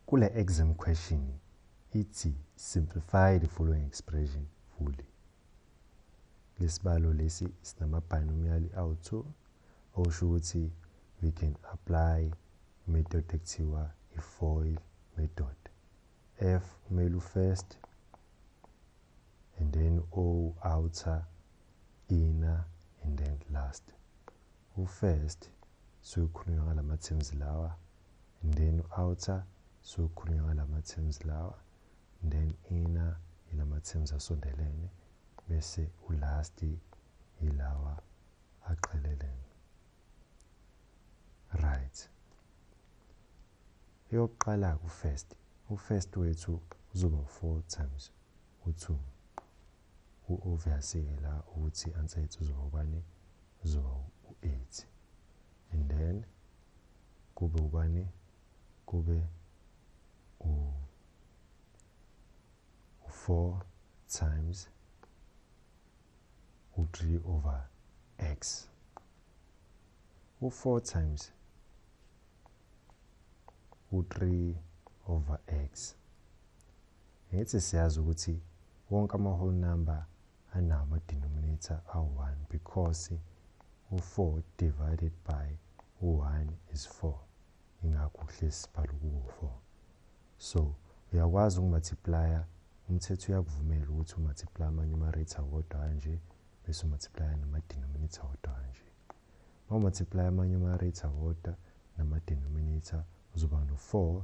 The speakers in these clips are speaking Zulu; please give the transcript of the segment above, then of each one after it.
Kule exam question ithi simplify the following expression fully. Lesibalo lesi sinama binomial awu-2 okusho ukuthi we can apply method ekuthiwa i-foil method. F kumele u-first and then O outer inner and then last. U-first sukhulunywa ngalama terms lawa and then u-outer sokhulunywa ngalama-terms lawa and then inner yilama-terms asondelene bese ulast yilawa aqhelelene right eyokuqala ku-first u-first wethu uzoba 4 times u-2 Obviously-ke la ukuthi anxiety uzoba ubani uzoba u-eight and then kube ubani kube u-four times u-three over x u-four times u-three over x Ngithi siyazi ukuthi wonke ama-whole number anawo ama-denominator awu-1 because u-4 divided by u-1 is 4 ingakho kuhlezi sibhala ukuwu-4 so uyakwazi ukumultiplaya umthetho uyakuvumela ukuthi umultiplay amanye ama-rater wodwa kanje bese umultiplaya nama-denominator wodwa kanje uma umultiplaya amanye ama-rater wodwa nama-denominator uzoba no-4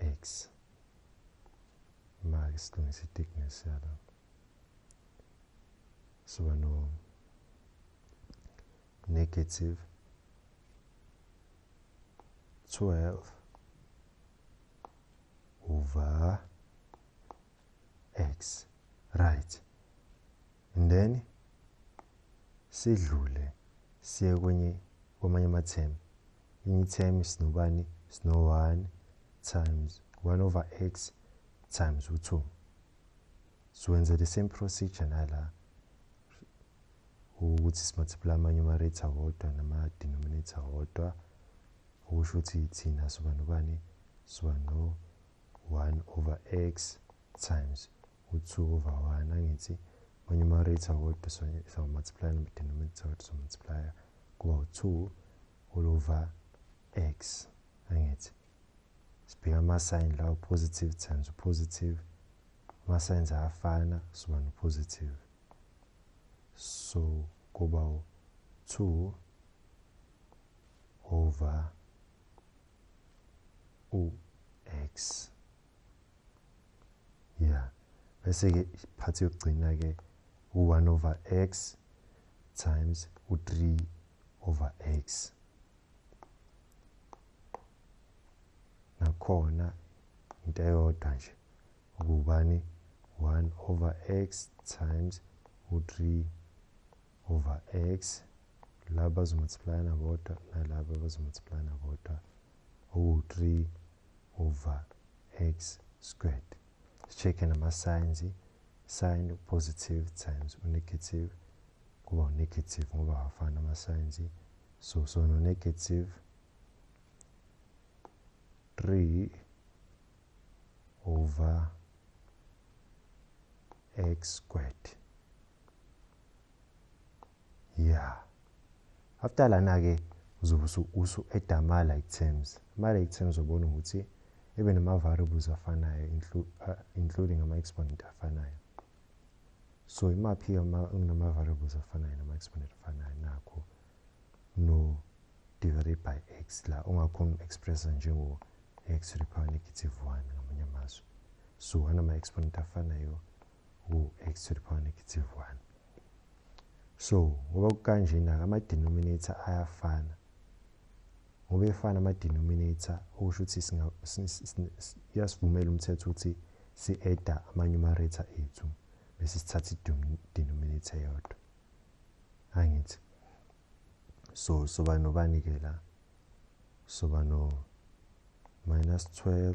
X. Maki silungisa i-thickness yalo. Siba no negative 12 over x right and then sidlule siye kwenye kwamanye ama-term enye i-term sinobani sino-one times one over x times u-two siwenze the same procedure nala ukuthi simultiply amanye ama-rate awodwa nama-denominator awodwa okusho ukuthi thina soba nobani soba no-one over x times Utsuku vawana ngithi uma numerator kodwa so so multiply no denominator kodwa so multiply kuba u2 all over x angithi sibheka ama sign lawo positive times u positive ama signs ayafana soba no positive so kuba u 2 over u x ya bese-ke iphathi yokugcina-ke u-one over x times u-three over x nakhona into eyodwa nje ukubani 1 over x times u-3 over x laba bazomultiplayana bodwa nalaba bazomultiplayana bodwa owu-3 over x squared sicheck nama signs sign positive times u negative kuba u negative ngoba awafani ama signs so so no negative 3 over x squared yeah after lana ke uzobe usu add ama like terms ama like terms ubona ukuthi ebe nama variables afanayo uh, including ama exponent afanayo so imaphi ama kunama variables afanayo nama exponent afanayo nakho no divided by x la ungakhona expressa njengo x to the power negative 1 ngamanye amazwi so anama exponent afanayo u-x to the power negative 1 so ngoba kukanjena-ke ama-denominator ayafana ngoba efana ama-denominator okusho ukuthi uyasivumela umthetho ukuthi si-eda ama-numerator ethu bese sithatha i-denominator yodwa angithi so soba nobani-ke la soba no minus 12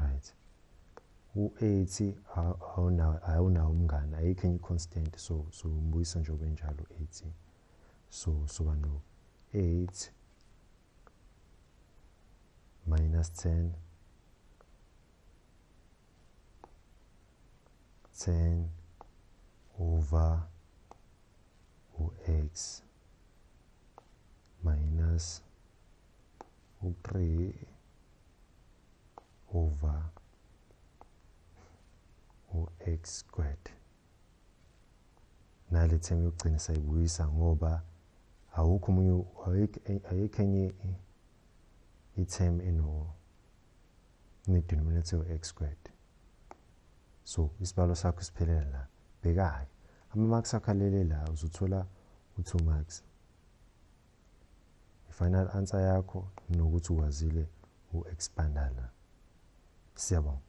right u-aids awunawo umngane ayikho enye i-constant so so umbuyisa nje obenjalo u-aids so soba no-aids minus 10 10 over u-x minus u-3 over u-x squared nale term yokugcina sayibuyisa ngoba awukho omunye ayikho enye i-term eno ne-denominator yo-x squared so isibalo sakho siphelela la bheka-ke ama-marks akho alele la uzothola u-two marks i-final answer yakho nokuthi ukwazile u-expandala siyabonga